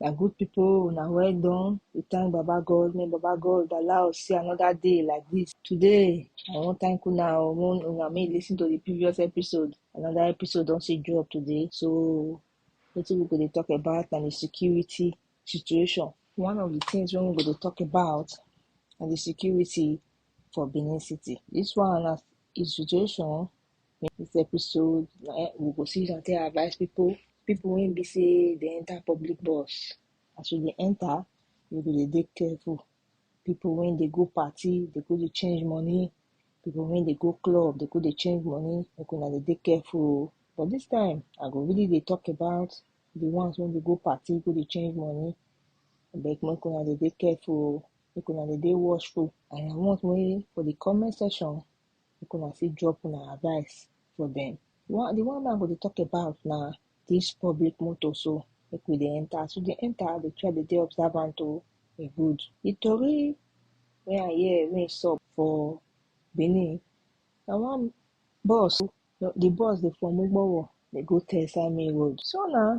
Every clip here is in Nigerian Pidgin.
na good people una well done we thank baba god may baba god allow us see another day like this today i wan thank una o wan una make lis ten to the previous episode another episode don still drop today so wetin we go dey talk about na the security situation. One of the things when we go to talk about and the security for Benin City. This one as is situation in this episode eh, we go see and take advice people people when be say they enter public bus as we dey enter you go dey dey careful people when they go party they go dey change money people when they go club they go dey change money make una dey dey careful but this time i go really dey talk about the ones wey dey go party go dey change money abeg make una dey dey careful o make una dey dey watchful and I want make for the comment section make una fit drop una advice for them one the one wey I go dey talk about na this public motor so make we dey enter as we dey enter dey try dey dey observant o e good the tori wey I hear wey sup for Benin na one bus No, the bus dey from Ugbowo, dey go Tesla main road. So na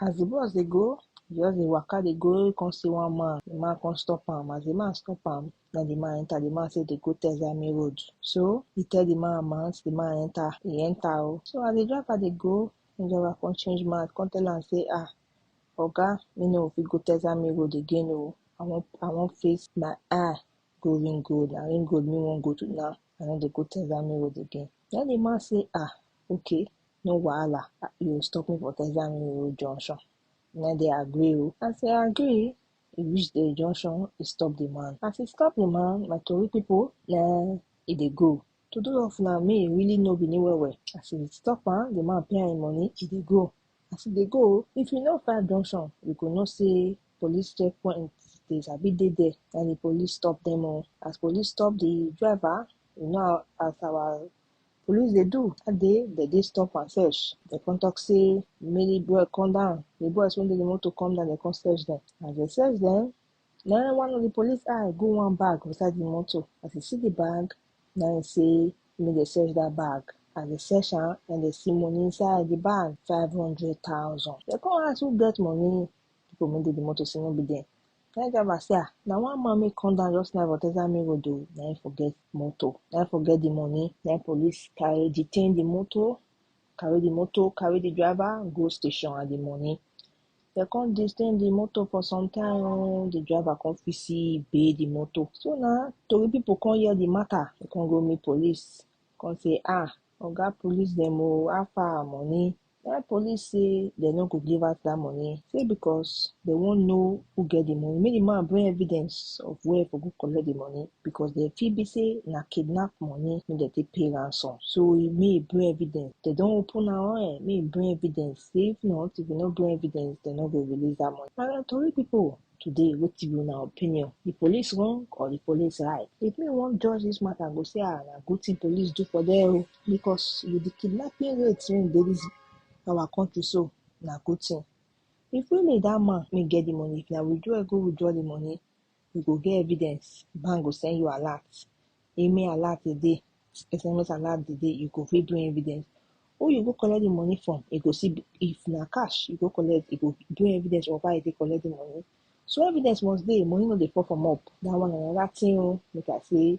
as the bus dey go, e just dey waka dey go, e come see one man, the man come stop am, as the man stop am, na the man enter, the man say dey go Tesla main road. So he tell the man amount, the man enter, he enter o. So as the driver dey go, the driver come change mouth, come tell am say ah oga, me no go fit go Tesla main road again o, I wan I wan face my eye, go ring road na ring road me wan go to now i no dey go texami road again na the man say ah okay no wahala you go stop me for texami road junction na dey agree o as e agree e reach the junction e stop the man as e stop the man my tori people na e dey go to do of na me e really know benin well well as e stop am the man pay am him money e dey go as e dey go if you know far junction you go know say police checkpoint dey sabi dey there na the police stop dem o as police stop the driver you know as our police dey do that day dem dey stop am search dem come talk say make the boy come down the boys wey dey the motor come down dem come search dem as dem search dem na him one of the police eye go one bag for inside the motor as e see the bag na him say make dem search that bag as dem search am na him dem see money inside the bag five hundred thousand dem come ask who get money People wey dey the motor say no be dem. Na im driver say ah, na one man wey come down just now for Texas main road oh, na im forget motor, na im forget the money. Na im police carry detain the motor, carry the motor, carry the driver go station and the money. Dem come detain the motor for some time oh, the driver come fit see bail the motor. So na tori people come hear the matter, dem come go meet police, come say ah, oga police dem oh, how far our money? Why police say dem no go give out that money? Say because they won't know who get the money. Make the man bring evidence of where for go collect the money because they feel be say na kidnap money make dem take pay ransom. So he may bring evidence. They don't open our own. May bring evidence. Say if not, if you no bring evidence, they no go release that money. Na na tori people today wetin be una opinion the police wrong or the police right if me wan judge this matter i go say ah na good thing police do for there o because with the kidnapping rate wey dey this our country so na good thing. If really that man wey get the money if na withdraw him go withdraw the money you go get evidence bank go send you alert email alert dey dey sms alert dey dey you go fit bring evidence who you go collect the money from e go still be if na cash you go collect e go bring evidence of how you take collect the money so evidence must dey money no dey fall from up that one na another thing oo make I say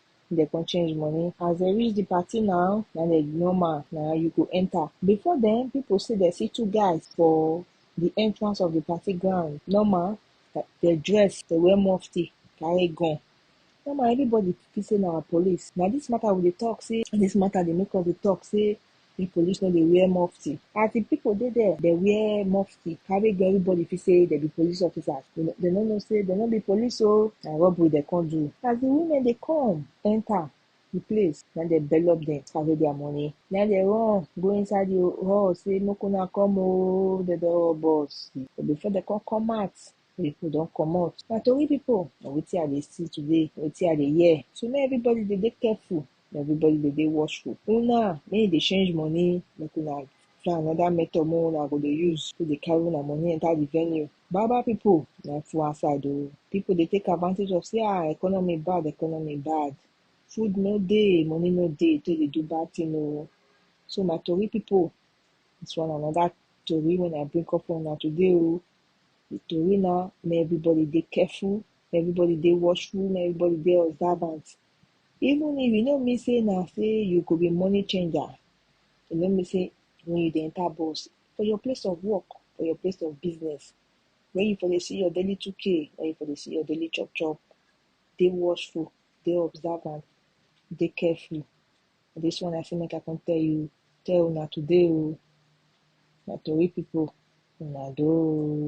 dem come change money as dem reach the party now na the normal na you go enter before then people say dem see two guys for the entrance of the party ground normal dem dress dem wear mufti carry gun normal everybody feel say na police na this matter we dey talk say this matter dey make us dey talk say di police no dey wear mufti as di pipo dey there dey wear mufti carry go everybody feel say dem be police officers dem no know say dem no be police oh na robbery dem come do as di women dey come enter di place na im dem bellob dem carry their money na im dem run go inside di hall say make una come oh dem don rob us but before dem come come out di pipo don comot my tori pipo na wetin I dey see today wetin I dey hear so make everybody dey dey careful everybody dey dey watchful una make you dey change money make una try another method make una go dey use take dey carry una money enter the venue baba people na full outside oo people dey take advantage of say ah economy bad economy bad food no dey money no dey take dey do bad thing oo so my tori people this one na another tori wey I bring come for una today oo the tori na make everybody dey careful make everybody dey watchful make everybody dey observant Even if e no mean say na say you go be money changer, e no mean say when you dey enter bus, for your place of work, for your place of business, when you for dey see your daily 2k, when you for dey see your daily chop chop, dey watchful, dey observant, dey careful. This one I say make I come tell you, tell una today o, na tori people una do o.